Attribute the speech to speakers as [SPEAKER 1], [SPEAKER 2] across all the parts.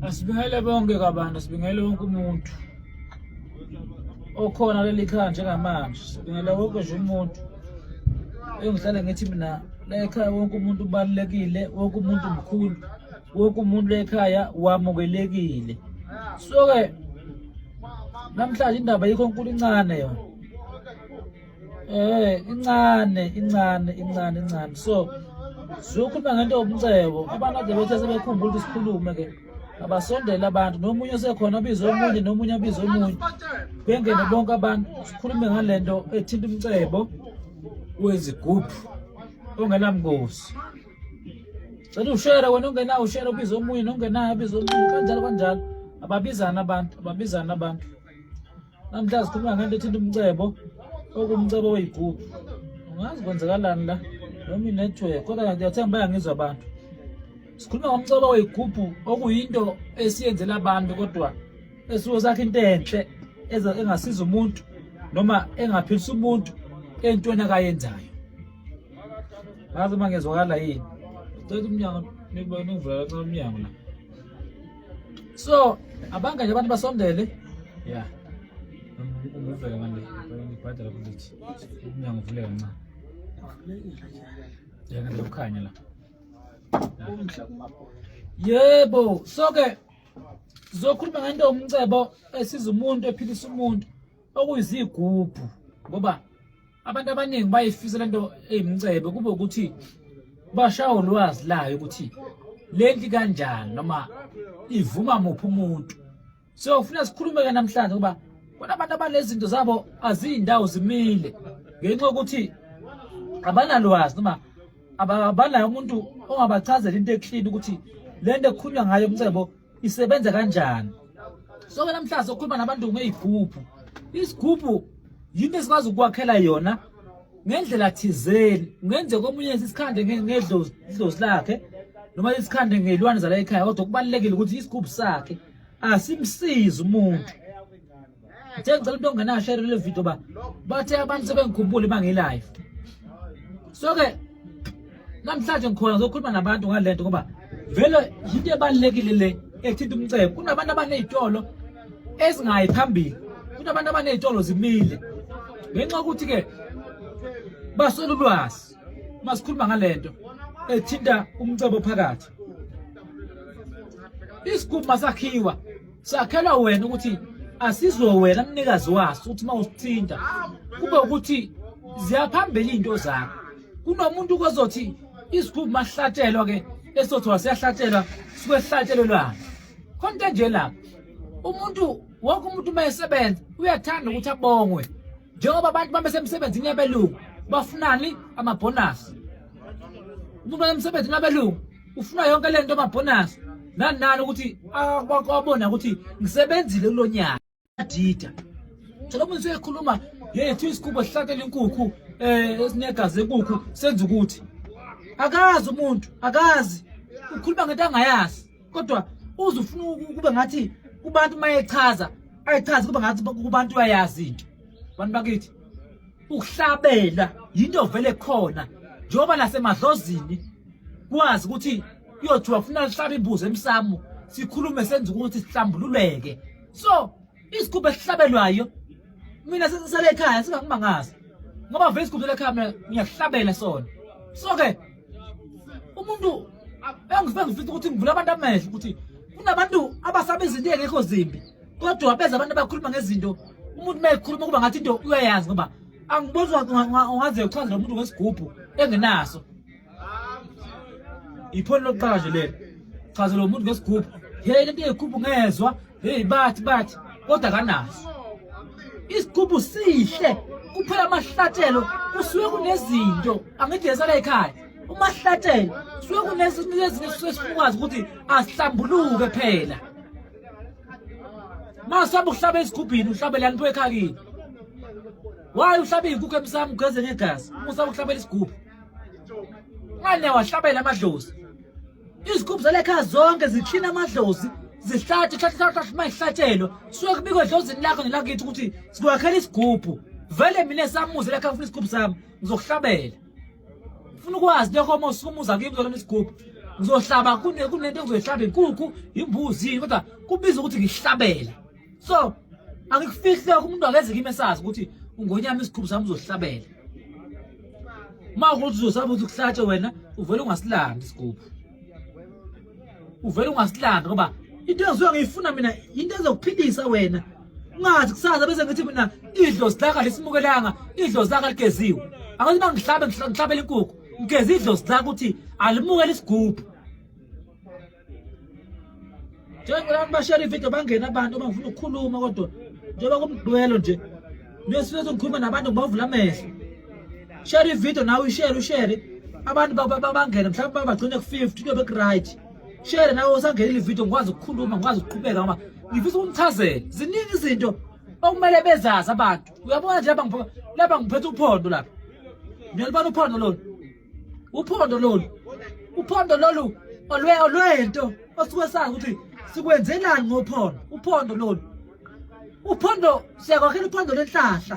[SPEAKER 1] Asibingele bonke kabantu, sibingele wonke umuntu okhona leli khaya njengamanje, sibingele wonke nje umuntu. Engihlale ngithi mina la ekhaya wonke umuntu ubalulekile, wonke umuntu mkhulu, wonke umuntu la ekhaya wamukelekile. So-ke namhlanje indaba yikho nkulu incane yona. Eh incane incane incane incane so siyokhuluma ngento yobumcebo abantu ade bethe sebekhumbula ukuthi sikhulume ke abasondele abantu nomunye osekhona abize omunye nomunye abize omunye bengene bonke abantu sikhulume ngale nto ethinta umcebo wezigubhu ongenamngozi cela ushere wena ongenawo ushere ubize omunye nongenayo abize omunye kanjalo kanjalo ababizana abantu ababizana abantu namhla sikhuluma ngento ethinta umcebo okumcebo oyigugu ungazi kwenzekalani la noma inetwork kodwa ndiyathemba bayangizwa abantu sikhuluma ngomcebo oyigubhu okuyinto esiyenzela abantu kodwa esuke sakhe into enhle engasiza umuntu noma engaphilisa umuntu entweni akayenzayo ngazi uma ngezwakala yini cela umnyango nikubona uvulala cela umnyango la So abanga nje abantu basondele. Yeah. Ngivuleka manje. Ngibhadala kulithi. Umnyango uvuleka ncane. Yena nje ukhanya la. Yebo, so ke zokhuluma ngento umcebo esiza umuntu ephilisa umuntu. okuyizigubhu ngoba abantu abaningi bayifisa lento eyimcebe kube ukuthi bashawa ulwazi layo ukuthi lenti kanjani noma ivuma muphi umuntu so ufuna sikhulume ke namhlanje ngoba bona abantu abanezinto zabo azindawo zimile ngenxa ukuthi abanalwazi noma abanayo umuntu ongabachazela into eklini ukuthi lento ekhulunywa ngayo umcebo isebenza kanjani so ke namhlanje sokhuluma nabantu ngeyigubhu isigubhu yinto esikwazi ukwakhela yona ngendlela thizeni ngenze komunye isikhande ngedlozi idlozi lakhe noma isikhande ngelwane zala ekhaya kodwa kubalekile ukuthi isigubhu sakhe asimsizi umuntu Ngithe ngicela umuntu ongenayo share le video ba bathe abantu sebengikhumbula uma ngilive. So ke namhlanje ngikhona ngizokhuluma nabantu ngalento ngoba vele yinto ebalekile le ethinta umcebo. Kunabantu abanezitolo ezingayi phambili. Kunabantu abanezitolo zimile. Ngenxa ukuthi ke baswela ulwazi masikhuluma ngalento ethinta umcebo phakathi. Isigubhu masakhiwa Sakhelwa wena ukuthi asizwe wena mnikazi waso ukuthi uma usithinta kube ukuthi ziyaphambili izinto zakho. Kunomuntu kozothi izikhulu mahlatshelwa ke esothi waseyahlatshelwa sikwehlatshelwe lwana. Khona into enje lapho. Umuntu wonke umuntu uma esebenza uyathanda ukuthi abongwe. Njengoba abantu uma besemsebenzini yabelungu bafunani amabhonasi. Umuntu wayemsebenzini wabelungu ufuna yonke le nto amabhonasi nani nani ukuthi abona ukuthi ngisebenzile kulo nyaka adida thola umuntu usekhuluma yethu isigubo sihlatela inkukhu um eh, esinegazi enkukhu senza ukuthi akazi umuntu akazi ukhuluma ngento angayazi kodwa uze ufuna kube ngathi kubantu uma echaza ayichazi kube ngathi kubantu uyayazi into bantu bakithi ukuhlabela yinto vele khona njengoba lasemadlozini kwazi ukuthi kuyothiwa funa lihlabe imbuzi emsamo sikhulume senza ukuthi sihlambululeke so isigubhu esihlabelwayo mina sesisele ekhaya singakumangazi ngoba vele isigubhu selekhaya mina ngiyahlabela sona so ke umuntu engifisa ukuthi ngivula abantu amehlo ukuthi kunabantu abasaba izinto engekho zimbi kodwa beza abantu abakhuluma ngezinto umuntu uma ekhuluma kuba ngathi into uyayazi ngoba angiboni ungaze uchaze lo muntu ngesigubhu engenaso iphoni lokuqala nje lelo chaze lo muntu ngesigubhu hey lento yekhuphu ngezwa hey bathi bathi kodwa kanaso isigubhu sihle kuphela amahlatshelo kusuke kunezinto angithi yesala ekhaya umahlatshelo suke kunezinto ezinye sifuna ukwazi ukuthi asihlambuluke phela Masihamba ukuhlaba esigubhini uhlabele yanipho ekhakini. Why uhlaba izinkukhu emsamo ugeze ngegazi? Musaba ukuhlabela isigubhu. Ngane wahlabela amadlozi. Izigubhu zalekhaya zonke ziklina amadlozi. Zihlathi hlathi hlathi mayihlatshelwa. Suke kubikwe edlozini lakho nelakithi ukuthi sikwakhela isigubhu. Vele mina samuze lekhaya ngifuna isigubhu sami ngizokuhlabela. ufuna ukwazi lokho uma usuke umuza kimi uzolona isigubhu ngizohlaba kunento engizoyihlaba inkukhu imbuzi kodwa kubiza ukuthi ngihlabele so angikufihli lokho umuntu akeze kimi esazi ukuthi ungonyama isigubhu sami uzohlabela uma ukuthi uzosaba ukuthi kuhlatshe wena uvele ungasilandi isigubhu uvele ungasilandi ngoba into engizoya ngiyifuna mina into ezokuphilisa wena ungazi kusasa bese ngithi mina idlozi laka lisimukelanga idlozi laka ligeziwe angathi uma ngihlabe ngihlabela inkukhu ngigeze idlozi laka ukuthi alimukele isigubhu njengoba abantu bashare ividiyo bangene abantu uma ngifuna ukukhuluma kodwa njengoba kumdwelo nje nesifuna sokukhuluma nabantu ngibavula amehlo share ividiyo nawe ishere ushere abantu bangene mhlawumbe bagcine ku-fifty kuyobe ku-right share nawe usangenile ivideo ngikwazi ukukhuluma ngikwazi ukuqhubeka ngoba ngifisa ukumchazela ziningi izinto okumele bezazi abantu uyabona nje laba ngiphethe uphondo lapha niyalibona uphondo lolu uphondo lolu uphondo lolu olwento osuke sazi ukuthi sikwenzelani ngophondo uphondo lolu uphondo siyakwakhela uphondo lenhlahla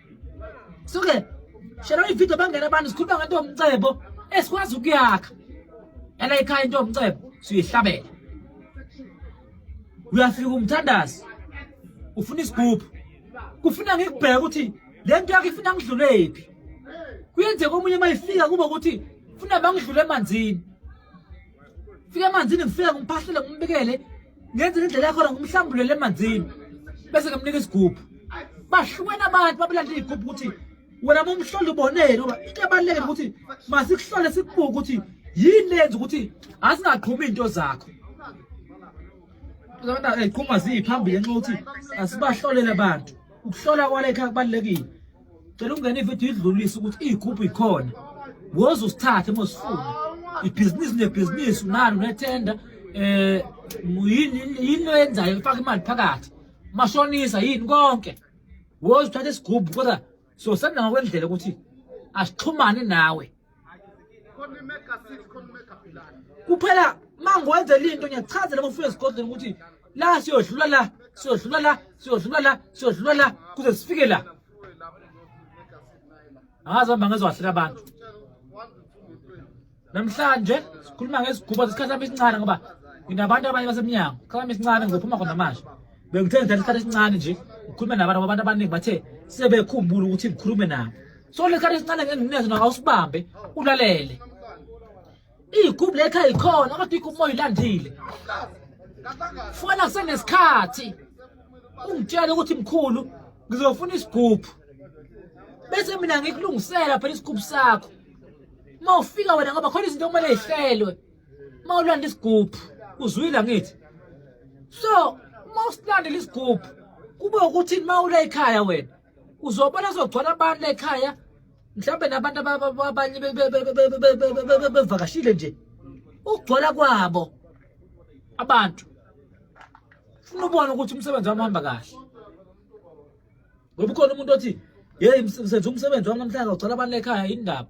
[SPEAKER 1] suke shela ivideo bangena abantu sikhuluma ngento omcebo esikwazi ukuyakha yala ikhaya into omcebo siyihlabela uyafika umthandazi ufuna isigubhu kufuna ngikubheke ukuthi le nto yakho ifuna ngidlulephi kuyenzeka omunye uma ifika kuba ukuthi funa bangidlule emanzini fika emanzini ngifike ngimphahlele ngimbekele ngenzela indlela yakhona ngumhlambulele emanzini bese ngamnika isigubhu bahlukene abantu babelandela igubhu ukuthi wena mumhlole uboneni ngoba into ebalulekile ukuthi masikuhlole sikubuke ukuthi yini lenza ukuthi asingaqhumi into zakho abantu eziqhuma ziphambili nxa ukuthi asibahlolele abantu ukuhlola kwalekha kubalulekile cela ukungena ividiyo idlulise ukuthi iyigubhu ikhona woze usithathe uma usifuna ibhizinisi nebhizinisi unalo unethenda um yini oyenzayo ifaka imali phakathi mashonisa yini konke woze uthathe isigubhu kodwa sosenda ngokwendlela ukuthi asixhumane nawe kuphela mangiwenzela into ngiyakuchazela uma ufika esigodlweni ukuthi la siyodlula la siyodlula la siyodlula la siyodlula la kuze sifike la angazi hamba ngezowahleka abantu namhlanje sikhuluma ngeziguba zesikhathi sami esincane ngoba nginabantu abanye basemnyango sikhathi sami esincane ngizophuma khona manje bengithe ngithatha isikhathi esincane nje ngikhulume nabantu abantu abaningi bathe sebekhumbula ukuthi ngikhulume nabo so le sikhathi esincane ngenginezo nawo awusibambe ulalele iy'gubhu lekha yikhona kodwa igubhu uma uyilandile fona kusenesikhathi ungitshele ukuthi mkhulu ngizofuna isigubhu bese mina ngikulungisela phela isigubhu sakho uma ufika wena ngoba khona izinto okumele yihlelwe mawulanda isigubhu uzwile ngithi so uma usilandela isigubhu kube ukuthi mawula ekhaya wena uzobona sogcwala abantu ekhaya mhlawumbe nabantu abanye bevakashile nje ukugcwala kwabo abantu funa ubona ukuthi umsebenzi wami uhamba kahle ngoba ukhona umuntu othi yeyi senza umsebenzi wami namhlanje ugcwala abantu ekhaya yini ndaba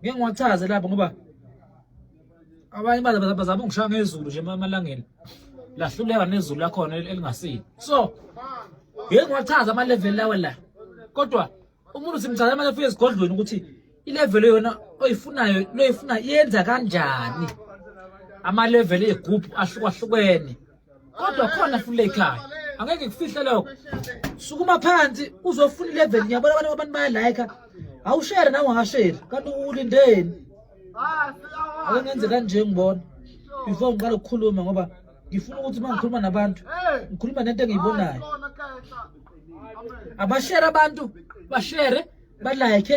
[SPEAKER 1] ngeke ngiwachaze lapho ngoba abanye bazama ungishaya ngezulu nje emalangeni lahluleka nezulu lakhona elingasile so ngeke ngiwachaze ama-level lawa la kodwa umuntu simchaza manje afike esigodlweni ukuthi ilevelo yona oyifunayo loyifuna yenza kanjani amalevelo egubhu ahlukahlukene kodwa khona fule ekhaya angeke kufihle lokho sukuma phansi uzofuna ilevel ngiyabona abantu abantu bayalike awushere nawe ungasheri kanti ulindeni ake ngenze kanje ngibona before ngiqala ukukhuluma ngoba ngifuna ukuthi uma ngikhuluma nabantu ngikhuluma nento engiyibonayo abashere abantu bashere balike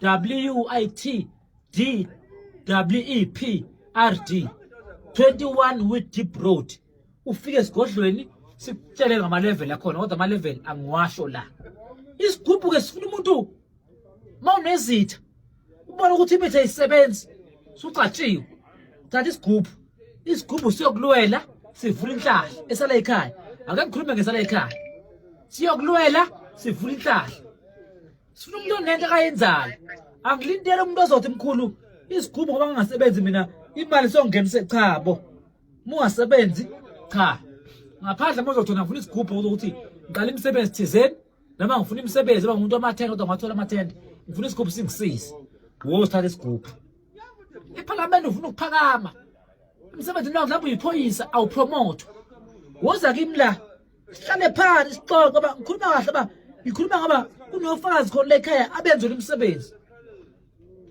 [SPEAKER 1] WITD WEP RD 21 with deep road ufike esigodlweni sikutshele ngama level akhona kodwa ama level angiwasho la isigubhu ke sifuna umuntu mawunezitha ubona ukuthi imithi ayisebenzi sucatshiwe thatha isigubhu isigubhu siyokulwela sivula inhlahla esala ekhaya ake ngikhulume ngesala ekhaya siyokulwela sivula inhlahla sifuna umuntu onento akayenzayo angilindele umuntu ozothi mkhulu isigubhu ngoba ngingasebenzi mina imali songenise cha bo mungasebenzi cha ngaphandle mozothi wena ngifuna isigubhu ukuthi ngiqala imisebenzi thizeni noma ngifuna imisebenzi uba ngumuntu amathenda kodwa ngathola amathenda ngifuna isigubhu singisize wo sithatha isigubhu ephalamende ufuna ukuphakama emsebenzini wakho lapho uyiphoyisa awupromote woza kimi la sihlale phansi sixoxe uba ngikhuluma kahle uba ngikhuluma ngoba kunofakazi khona lekhaya abenzela umsebenzi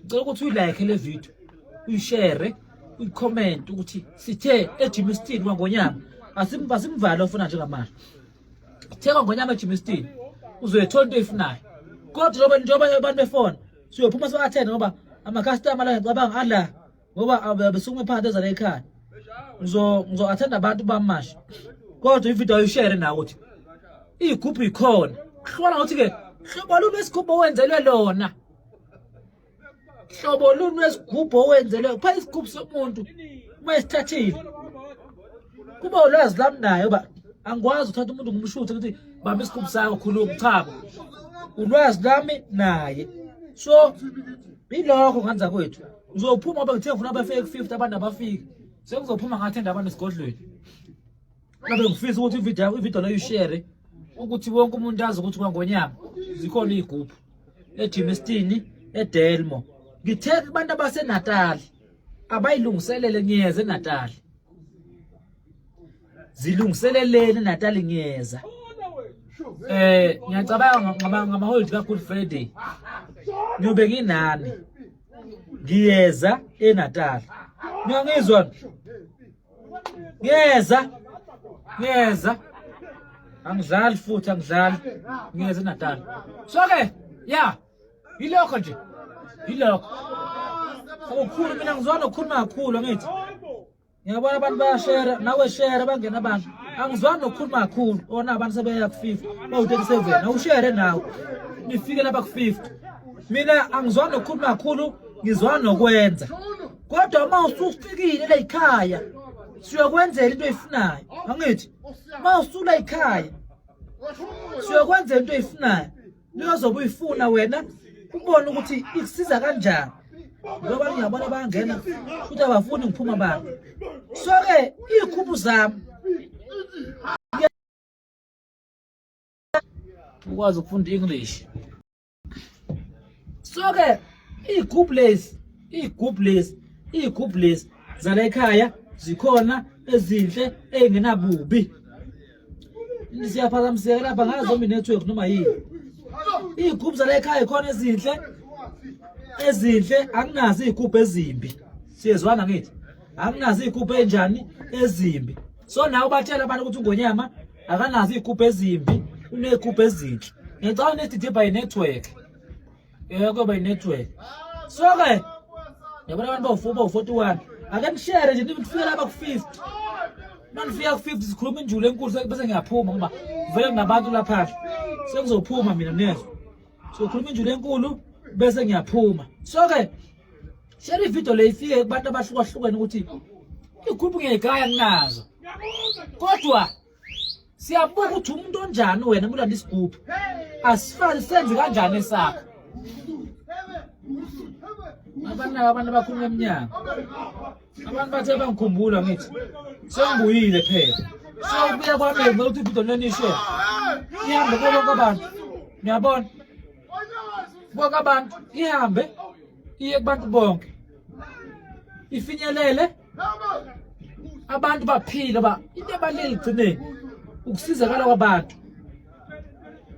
[SPEAKER 1] ngicela ukuthi uyilike le video uyishere uyikhomenti ukuthi sithe ejimistini kwangonyama asimvale ofuna njengamanje sithe kwangonyama ejimistini uzoyithola into oyifunayo kodwa njengoba abantu befona siyophuma siwathene ngoba amakhastama la ngicabanga ala ngoba abesukuma phakathi ezala ekhaya ngizo-athenda abantu bamasha kodwa ividiyo ayishere nawo ukuthi iy'gubhu yikhona hlola ngokuthi-ke hlobo luni wesigubhu owenzelwe lona hlobo luni wesigubhu owenzelwe kupha isigubhu somuntu uma esithathile kuba ulwazi lami naye uba angikwazi uthatha umuntu ngumshuthe ukuthi bamba isigubhu sakho khuluma chabo ulwazi lami naye so yilokho nganza kwethu Ngizophuma ngoba ngithe ngifuna abafike ku-50 abantu abafiki. Sengizophuma ngathi enda abantu esigodlweni. Ngabe ngifisa ukuthi ivideo ivideo leyo ishare ukuthi wonke umuntu azi ukuthi kwangonyama zikhona iy'gubhu ejimestini edelmo ngithe kubantu abasenatali abayilungiselele ngiyeza enatali zilungiseleleni enatali ngiyeza eh ngiyacabanga ngama-hold ka-good friday ngiyobe nginani ngiyeza eNatal niyangizwa ngiyeza ngiyeza angidlali futhi angidlali ngiyeza eNatal so ke ya yilokho nje yilokho ukhulu mina ngizona ukhuluma kakhulu angithi ngiyabona abantu bayashera nawe share bangena abantu angizwani nokukhuluma kakhulu ona abantu sebeya ku-fifty bawu-thirty-seven awushere nawe nifike lapha ku-fifty mina angizwani nokukhuluma kakhulu ngizwani nokwenza kodwa uma usufikile la yikhaya siyokwenzela into oyifunayo angithi uma usula yikhaya siyokwenzela into oyifunayo Niyozobe uyifuna wena ubone ukuthi ikusiza kanjani ngoba ngiyabona bangena futhi abafuni ngiphuma bani so-ke iy'khumbu zami ukwazi ukufunda i-english so-ke iy'gubhu lezi iy'gubhu lezi iy'gubhu lezi zala ekhaya zikhona ezinhle ey'ngenabubi siyaphazamiseka lapha ngayo zombie network noma yini iy'gubhu zala ekhaya khona ezinhle ezinhle anginazo iy'gubhu ezimbi siyezwana ngithi anginazo iy'gubhu enjani ezimbi so nawe ubatshela abantu ukuthi ungonyama akanazo iy'gubhu ezimbi uney'gubhu ezinhle ngicabanga nethi dibha yi-network Eh kuyoba inetwork. So ke yabona abantu bawu-4 bawu-41 ake nishere nje nifike lapha ku-50 manifika ku-50 sikhuluma injulu enkulu bese ngiyaphuma ngoba vele nginabantu lapha sengizophuma mina nezwa sokhuluma injulu enkulu bese ngiyaphuma so ke share ividiyo le ifike kubantu abahlukahlukene ukuthi igruphu ngiyayigaya nginazo kodwa siyabuka ukuthi umuntu onjani wena kulanda isigubhu asifani senze kanjani esakho abanaka abantu abakhuluma emnyango abantu bathe bangikhumbula ngithi sengibuyile phela sewubuya kwami ukuthi ibhido nonishe ihambe kubo bonke abantu niyabona bonke abantu ihambe iye kubantu bonke ifinyelele abantu baphile ba into ebalulekile igcineni ukusizakala kwabantu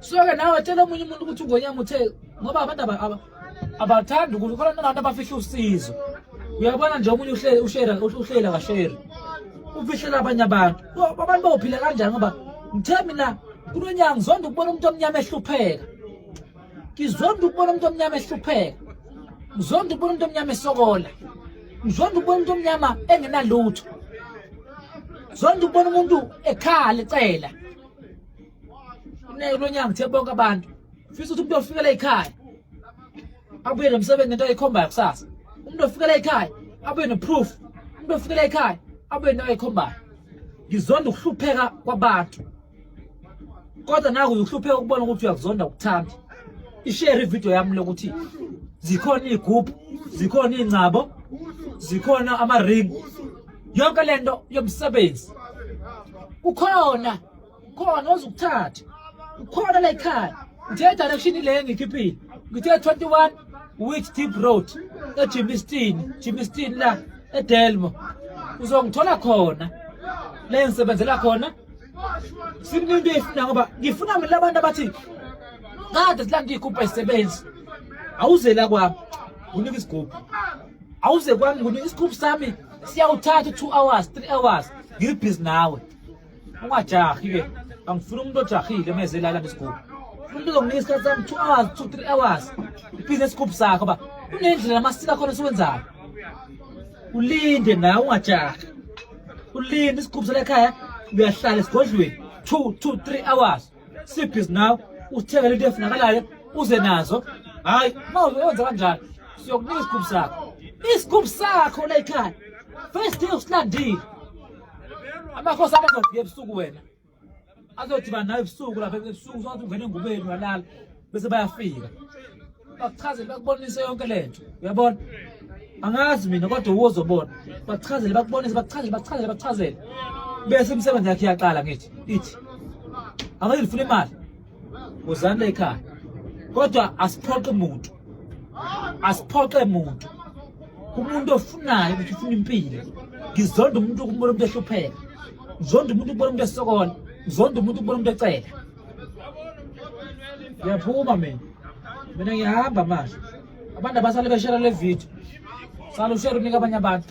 [SPEAKER 1] soke nawe tshela omunye umuntu ukuthi ugonyama uthe ngoba abantu abathandi ukuthi khona nabantu abafihla usizo uyabona nje omunye ushera uhlela kasheri ufihlela abanye abantu abantu bawuphila kanjani ngoba ngithe mina kulo nyanga ngizonda ukubona umuntu omnyama ehlupheka ngizonda ukubona umuntu omnyama ehlupheka ngizonda ukubona umuntu omnyama esokola ngizonda ukubona umuntu omnyama engenalutho zonda ukubona umuntu ekhala ecela uneke lonyanga uthe bonke abantu fisa ukuthi umuntu ofikela ekhaya abuye nomsebenzi nento ayikhombayo kusasa umuntu ofikela ekhaya abuye neproof umuntu ofikela ekhaya abuye nento ayikhombayo ngizonda ukuhlupheka kwabantu kodwa naku ukuhlupheka ukubona ukuthi uyakuzonda ukuthanda ishare ivideo yami lokuthi zikhona iy'gubhu zikhona iy'ngcabo zikhona ama-ring yonke le nto yomsebenzi kukhona khona ozukuthatha kukhona la ekhaya ngithe direction le ngikhiphile ngithe 21 which deep road ejimistin jimistin la edelmo uzongithola khona le ngisebenzela khona Simlinde ifuna ngoba ngifuna mina abantu abathi kade silanda igubha isebenzi. Awuze la kwami. Unika isigubhu. Awuze kwami unika isigubhu sami siyawuthatha 2 hours, 3 hours. Ngibhizi nawe. Ungajahi ke. Angifuni umuntu ojahile meze la landa isigubhu. Umuntu uzonginika isikhathi sami 2 hours, 2 3 hours. Ibhizi isigubhu sakho ba. Kunendlela amasika khona siwenzayo. Ulinde nawe ungajahi. ulinda isigubhu salekhaya uyahlala esigodlweni two two three hours sleep is now uthengele into efunakalayo uze nazo hhayi ma uzoyenza kanjani siyokunika isigubhu sakho isigubhu sakho layikhaya first day usilandile amakhosi abazofika ebusuku wena azodibana nawe ebusuku lapha ebusuku sothi ungene engubeni walala bese bayafika bakuchazele bakubonise yonke le nto uyabona angazi mina kodwa uwo uzobona bakuchazele bakubonise bakuchazele bakuchazele bakuchazele bese imisebenzi yakhe iyaqala ngithi ithi angeke ndifuna imali uzani la ekhaya kodwa asiphoqe muntu asiphoqe muntu umuntu ofunayo ukuthi ufuna impilo ngizonda umuntu ukubona umuntu ehlupheka ngizonda umuntu ukubona umuntu esokola ngizonda umuntu ukubona umuntu ecela ngiyaphuma mina mina ngiyahamba manje abantu abasale beshera le video sale ushera unika abanye abantu